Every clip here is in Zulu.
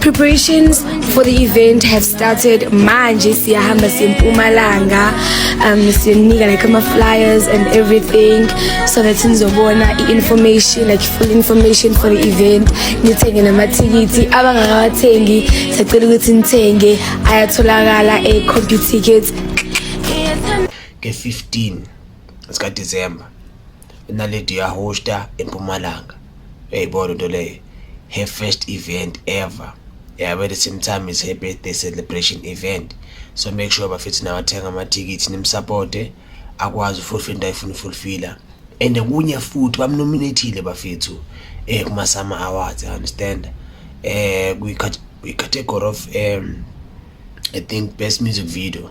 Preparations for the event have started manje siyahamba siyempumalanga um sinika like ama flyers and everything so that nizobona i-information like full information for the event nithenge namathikithi abangakawathengi sacela ukuthi nithenge ayatholakala e-compute tickets nge-15 zikadisemba inaledi yahosta empumalanga uyayibona into leyo her first event ever yabo at the same time is her birthday celebration event so make sure bafethu nawathenga amathikithi nimsupporte akwazi ufulfil into ayifuna ufulfila and kunye futhi bamnominathile bafethu eh kuma-summer awards i understand eh kwi-category of um i think best music video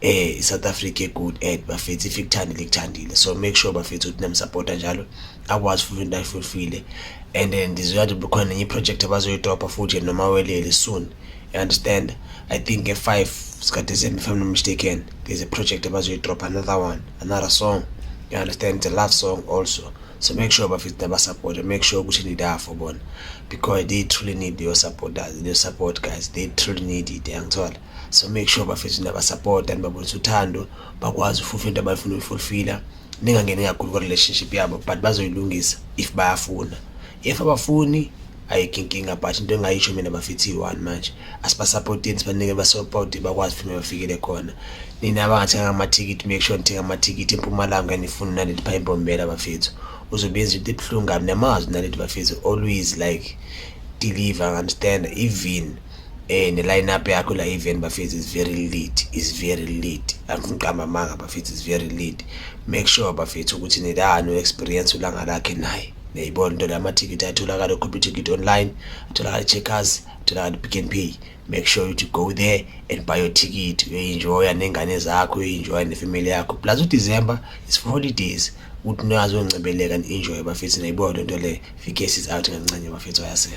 eh iSouth Africa good ad bafethu if ikuthandile ikuthandile so make sure bafethu ukuthi namsupporta njalo akwazi futhi into ayifulfile and then ndizoya nje khona nenye project abazoyidobha futhi noma welele soon you understand i think nge 5 sikaDecember if I'm not mistaken there's a project abazoyidrop another one another song you understand it's a love song also so make sure bafethu nabasupporta make sure ukuthi nidafo bona because they truly need your support guys they truly need it yangithola so make sure bafethu niyabasapota nibabonisa uthando bakwazi ufufa into abayifuna uyifulfila ningangeni kakhulu kwa-relationship yabo but bazoyilungisa if bayafuna if abafuni ayikho inkinga but into engayisho mina bafethi yi-one manje asibasapoteni sibanike basapoti bakwazi futhi bafikele khona nina abangathenganga amathikithi make sure nithenga amathikithi empumalanga enifuna naleli pha imbombela bafethu uzobenza into ebuhlungu kabi namazwi naleli bafethu always like deliver understand even Eh ne line up yakho la event bafethu is very lit, is very lit. Angiqamba amanga bafethu is very lit. Make sure bafethu ukuthi nilano experience ulanga lakhe naye. Niyayibona into lama ticket atholakala ku ticket online, atholakala checkers, atholakala pick and pay. Make sure you to go there and buy your ticket. You enjoy nengane zakho, you enjoy ne family yakho. Plus u December is for holidays. Uthi nazo ngcebeleka and enjoy bafethu niyayibona into le. Fikesi is out kancane bafethu ayasela.